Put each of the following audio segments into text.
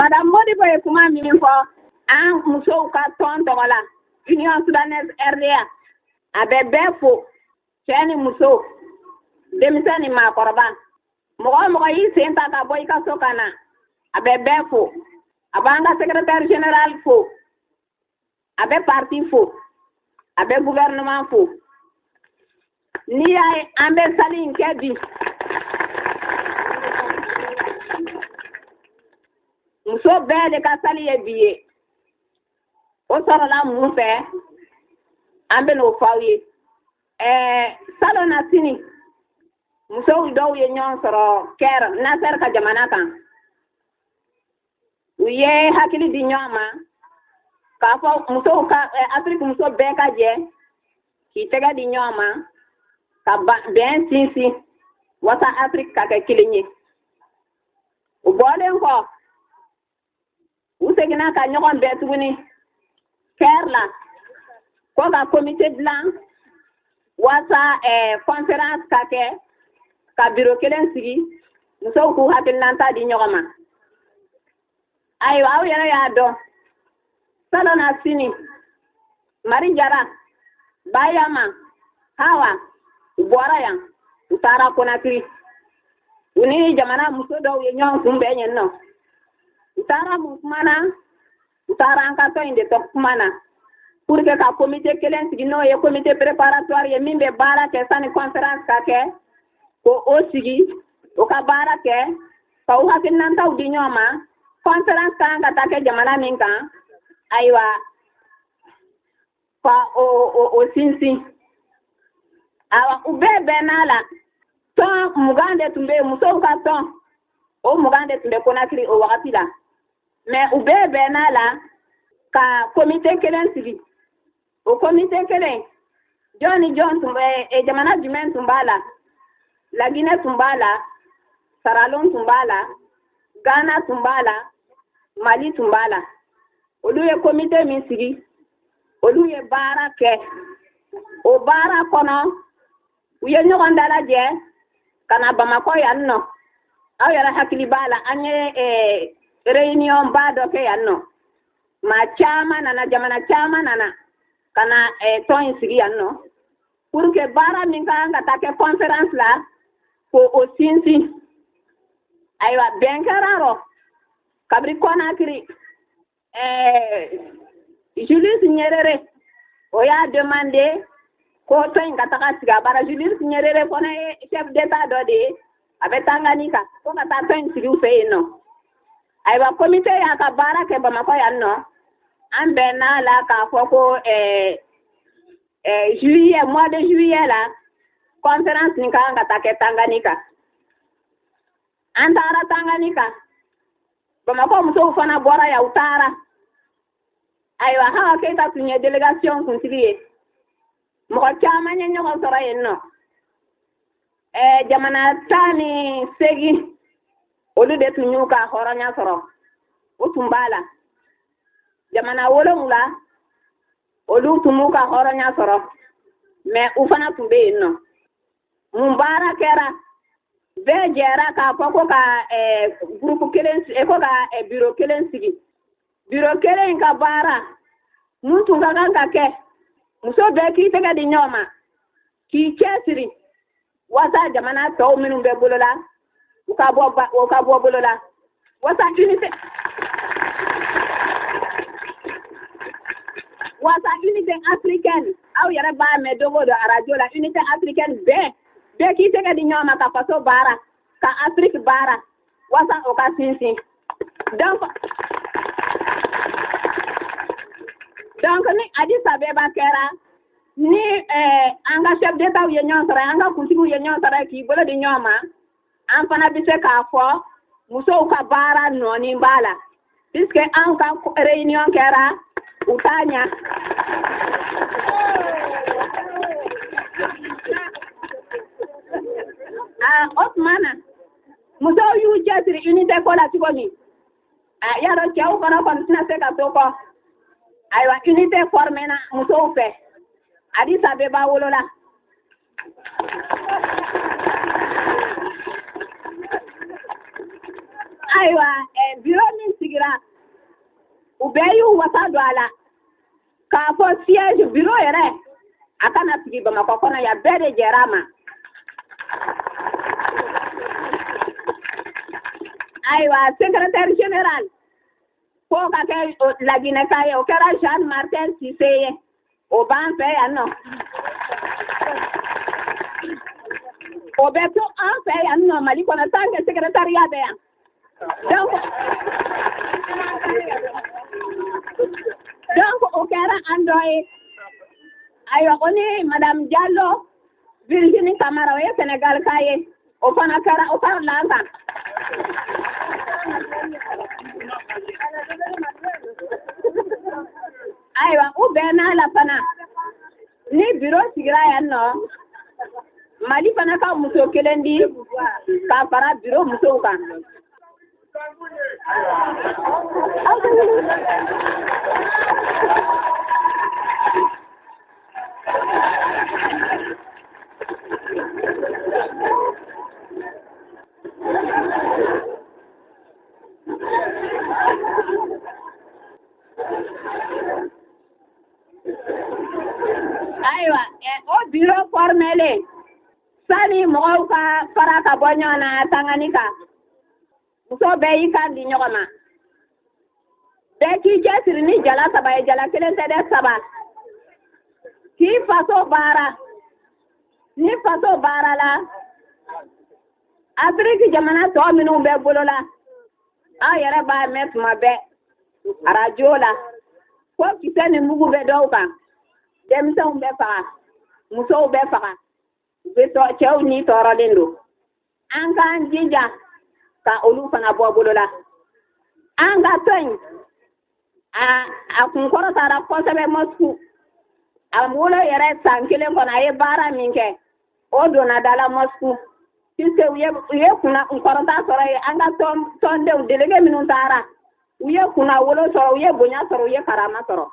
madame modibo ye kuma min fɔ an musow ka tɔn tɔgɔ la union sudanaise rda a bɛ bɛɛ fo cɛɛ ni muso denmisɛn ni maakɔrɔba mɔgɔ o mɔgɔ y'i sen ta ka bɔ i ka so ka na a bɛ bɛɛ fo a b'an ka secrétaire général fo a bɛ parti fo a bɛ gouvernement fo n'i y'a ye an bɛ sali in kɛ bi muso bɛɛ le ka sali ye bi ye o sɔrɔla mun fɛ an bɛ n'o f'aw ye ɛɛ salonnasini muso dɔw ye ɲɔgɔn sɔrɔ kɛr nasɛr ka jamana kan u ye hakili di ɲɔgɔn ma k'a fɔ musow ka eh, afiriki muso bɛɛ ka jɛ k'i tɛgɛ di ɲɔgɔn ma ka bɛn sinsin waasa afiriki ka kɛ kelen ye u bɔlen kɔ u seginna ka ɲɔgɔn bɛn tuguni kɛri la ko ka komite dilan waasa conférence eh, ka kɛ ka biro kelen sigi musow k'u hakilinanta di ɲɔgɔn ma ayiwa aw yɛrɛ y'a dɔn salonnasini mari jara bayama hawa u bɔra yan u taara konakiri u ni jamana muso dɔw ye ɲɔgɔn kunbɛn yen nɔ u taara mun kuma na u taara an ka tɔn in de tɔ kuma na pour que ka komite kelen sigi n'o ye komite préparatoire ye min bɛ baara kɛ sani conférence ka kɛ k'o sigi o ka baara kɛ ka u hakilinantaw di ɲɔgɔn ma conférence ka kan ka taa kɛ jamana min kan ayiwa ka o o o sinsin awa u bɛɛ bɛnn'a la tɔn mugan de tun bɛ yen musow ka tɔn o mugan de tun bɛ konakiri o wagati la mais u bɛɛ bɛnn'a la ka komite kelen sigi o komite kelen jɔn ni jɔn tun bɛ e, jamana jumɛn tun b'a la laginɛ tun b'a la saralon tun b'a la gana tun b'a la mali tun b'a la olu ye komite min sigi olu ye baara kɛ o baara kɔnɔ u ye ɲɔgɔn dalajɛ ka na bamakɔ yan nɔ aw yɛrɛ hakili b'a la an ye eh, réunion ba dɔ kɛ yan nɔ maa caman nana jamana caman nana ka na eh, tɔn in sigi yan nɔ pour que baara min ka kan ka taa kɛ conférence la k'o sinsin ayiwa bɛn kɛr'a rɔ kabiri konakiri eh, Julius Nyerere o y'a demandé ko tɔn in ka taga sigi a bara Julius Nyerere fana ye chef d'état dɔ de ye a bɛ Tanganyika ko ka taa tɔn in sigi u fɛ yen nɔ ayiwa komite y'a ka baara kɛ Bamakɔ yan nɔ an bɛnna a la k'a fɔ ko eh, eh, juillet mois de juillet la conférence nin ka kan ka taa kɛ Tanganyika an taara Tanganyika Bamakɔ musow fana bɔra yan u taara ayiwa Hawa Keyita tun ye délégation kuntigi ye mɔgɔ caman ye ɲɔgɔn sɔrɔ yen nɔ ɛɛ jamana tan ni seegin olu de tun y'u ka hɔrɔnya sɔrɔ u tun b'a la jamana wolonwula olu tun m'u ka hɔrɔnya sɔrɔ mais u fana tun bɛ yen nɔ mun baara kɛra bɛɛ jɛra k'a fɔ ko ka gurupu kelen ko ka biro kelen sigi biro kelen in ka baara mun tun ka kan ka kɛ muso bɛɛ k'i tɛgɛ di ɲɔgɔn ma k'i cɛsiri waasa jamana tɔw minnu bɛ bolola u ka bɔ ba u ka bɔ bolo la waasa unité waasa unité africaine aw yɛrɛ b'a mɛn don o don arajo la unité africaine bɛɛ bɛɛ k'i tɛgɛ di ɲɔgɔn ma ka faso baara ka afiriki baara waasa o ka sinsin donc donc ni Addis Abeba kɛra ni eh, an ka chef d'étatw ye ɲɔgɔn sɔrɔ an ka kuntigiw ye ɲɔgɔn sɔrɔ k'i bolo di ɲɔgɔn ma an fana bɛ se k'a fɔ musow ka baara nɔ nin b'a la puisque anw ka réunion kɛra u ta ɲa ah, o tuma na musow y'u cɛsiri unité ko la cogo min a y'a dɔn cɛw fana kɔni tɛna se ka to kɔ ayiwa unité formé na musow fɛ Addis Abeba wolola ayiwa eh, biro min sigira u bɛɛ y'u wasa don a la k'a fɔ siège biro yɛrɛ a ka na sigi Bamakɔ kɔnɔ yan bɛɛ de jɛra a ma ayiwa secrétaire général k'o ka kɛ laginɛka ye o kɛra Jeanne Martin Cissé ye o b'an fɛ yan nɔ o bɛ to an fɛ yan nɔ Mali kɔnɔ tant que secrétariat bɛ yan donc o kɛra an dɔ ye ayiwa o ni madame diallo virginie kamara o ye senegalka ye o fana kɛra o farala an kan ayiwa u bɛnn'a la fana ni biro sigira yan nɔ mali fana ka muso kelen di ka fara biro musow kan ayiwa o biro fɔrimelen sani mɔgɔw ka fara ka bɔ ɲɔgɔn na tanganika muso bɛɛ y'i kan di ɲɔgɔn ma bɛɛ k'i cɛsiri ni jala saba ye jala kelen tɛ dɛ saba k'i faso baara ni faso baara la afiriki jamana tɔ minnu bɛ bolo la aw yɛrɛ b'a mɛn tuma bɛɛ arajo la ko kisɛ ni mugu bɛ dɔw kan denmisɛnw bɛ faga musow bɛ faga u bɛ tɔ cɛw ni tɔɔrɔlen don an k'an jija ka olu fana bɔ bolo la an ka tɔn in a a kunkɔrɔtara kosɛbɛ moscou a wolo yɛrɛ san kelen kɔnɔ a ye baara min kɛ o donna da la moscou puisque u ye u ye kunna kɔrɔta sɔrɔ yen an ka tɔn tɔndenw delege minnu taara u ye kunnawolo sɔrɔ u ye bonya sɔrɔ u ye karama sɔrɔ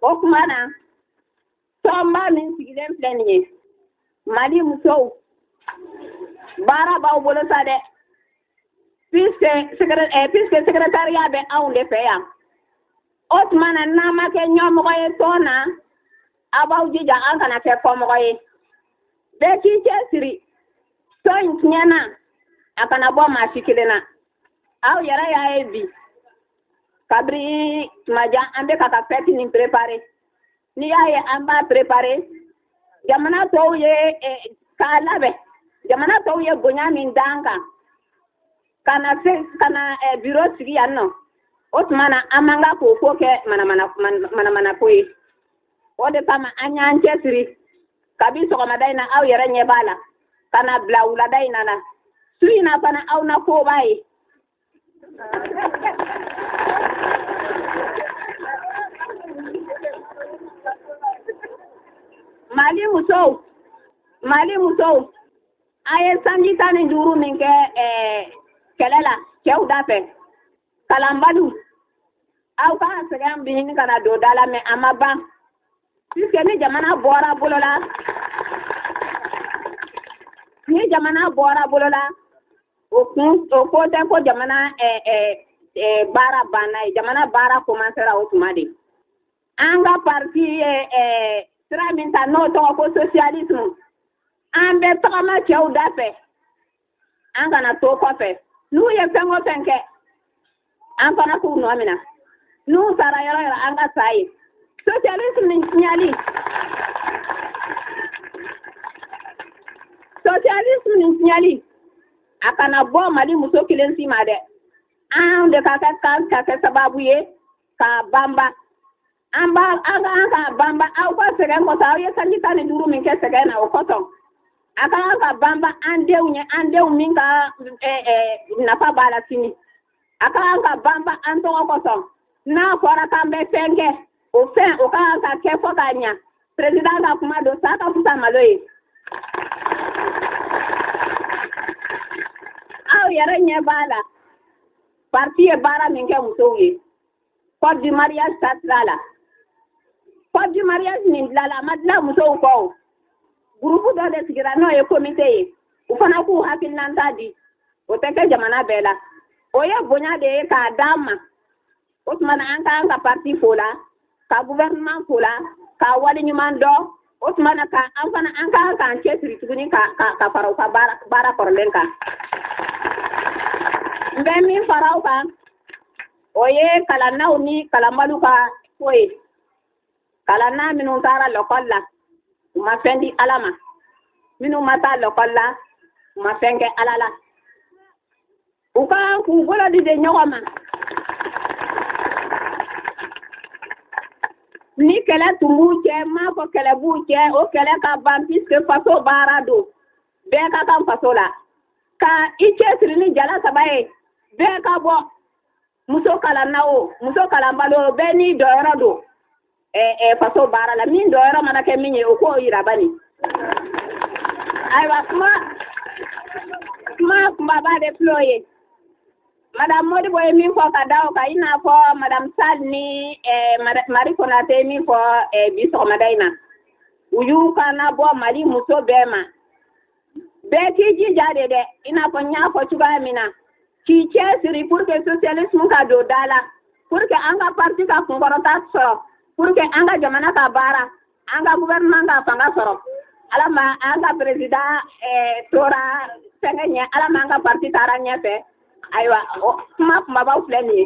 o kuma na Tɔnba min sigilen filɛ nin ye Mali musow baara b'aw bolo sa dɛ puisque eh, secrétariat bɛ anw de fɛ yan o tuma na n'an ma kɛ ɲɛmɔgɔ ye tɔn na aw b'aw jija an kana kɛ kɔmɔgɔ ye bɛɛ k'i cɛsiri tɔn in tiɲɛ na a kana bɔ maa si kelen na aw yɛrɛ y'a ye bi kabiri tuma jan an bɛ ka ka fɛti nin préparer n'i y'a ye an b'a préparer jamana tɔw ye eh, k'a labɛn jamana tɔw ye bonya min d'an kan ka na se ka na eh, biro sigi yan nɔ o tuma na an man ka k'o ko kɛ manamanako ye o de kama an y'an cɛsiri kabi sɔgɔmada in na aw yɛrɛ ɲɛ b'a la ka na bila wulada in na na su in na fana aw na koba ye Mali muso mali muso a ye sanji tan ni duuru min kɛ eh, kɛlɛ la cɛw da fɛ kalanbaliw aw ka sɛgɛn bi ɲini ka na don da la mais a ma ban puisque ni jamana bɔra bolo la ni jamana bɔra bolo la o kɔrɔ tɛ ko jamana eh, eh, eh, baara banna ye jamana baara komansera o tuma de an ka parti ye eh, sira min ta n'o tɔgɔ ko socialisme an bɛ tagama cɛw da fɛ an kana to kɔfɛ n'u ye fɛn o fɛn kɛ an fana k'u nɔ minɛ n'u sara yɔrɔ o yɔrɔ an ka sa yen socialisme nin tiɲɛli socialisme nin tiɲɛli a kana bɔ mali muso kelen si ma dɛ an de ka kan ka kɛ sababu ye k'a banba a ka kan ka banba aw ka sɛgɛn kɔsɔn aw ye sanji tan ni duuru min kɛ sɛgɛn na o kɔsɔn a ka kan ka banba an denw ye an denw min ka eh, eh, nafa b'a la sini a ka kan ka banba an tɔgɔ kɔsɔn n'a fɔra k'an bɛ fɛn kɛ o fɛn o ka kan ka kɛ fɔ k'a ɲa perezidan ka kuma don sa ka fisa malo ye aw yɛrɛ ɲɛ b'a la parti ye baara min kɛ musow ye code du mariage ta sira la code du mariage nin dilala a ma dila musow kɔ o gurupu dɔ de sigira n'o ye komite ye u fana k'u hakilinanta di o tɛ kɛ jamana bɛɛ la o ye bonya de ye k'a d'an ma o tuma na an ka kan ka parti fo la ka gouvernement fo la ka waleɲuman dɔn o tuma na ka an fana an ka kan k'an cɛsiri tuguni ka ka ka fara u ka baara baara kɔrɔlen kan n bɛ min fara u kan o ye kalannaw ni kalanbaliw ka ko ye kalanna minnu taara lɔkɔli la u ma fɛn di ala ma minnu ma taa lɔkɔli la u ma fɛn kɛ ala la u ka kan k'u bolo di de ɲɔgɔn ma ni kɛlɛ tun b'u cɛ n m'a fɔ kɛlɛ b'u cɛ o kɛlɛ ka ban puisque faso baara don bɛɛ ka kan faso la ka i cɛsiri ni jala saba ye bɛɛ ka bɔ muso kalanna o muso kalanbali o bɛɛ n'i dɔyɔrɔ don faso baara la min dɔyɔrɔ mana kɛ min ye o k'o yira bani ayiwa n ka kuma kunbaba de filɛ o ye madame Modibo ye min fɔ ka da o kan i n'a fɔ madame Sall ni eh, Marie Konate ye min fɔ eh, bi sɔgɔmada in na u y'u kanbɔ Mali muso bɛɛ ma bɛɛ k'i jija de dɛ i n'a fɔ n y'a fɔ cogoya min na k'i cɛsiri pour que socialisme ka don da la pour que an ka parti ka kunkɔrɔta sɔrɔ pour que an ka jamana ka baara an ka gouvernement ka fanga sɔrɔ ala ma an ka président eh, tora fɛngɛ ɲɛ ala ma an ka parti taara ɲɛfɛ ayiwa kuma kunbabaw filɛ nin ye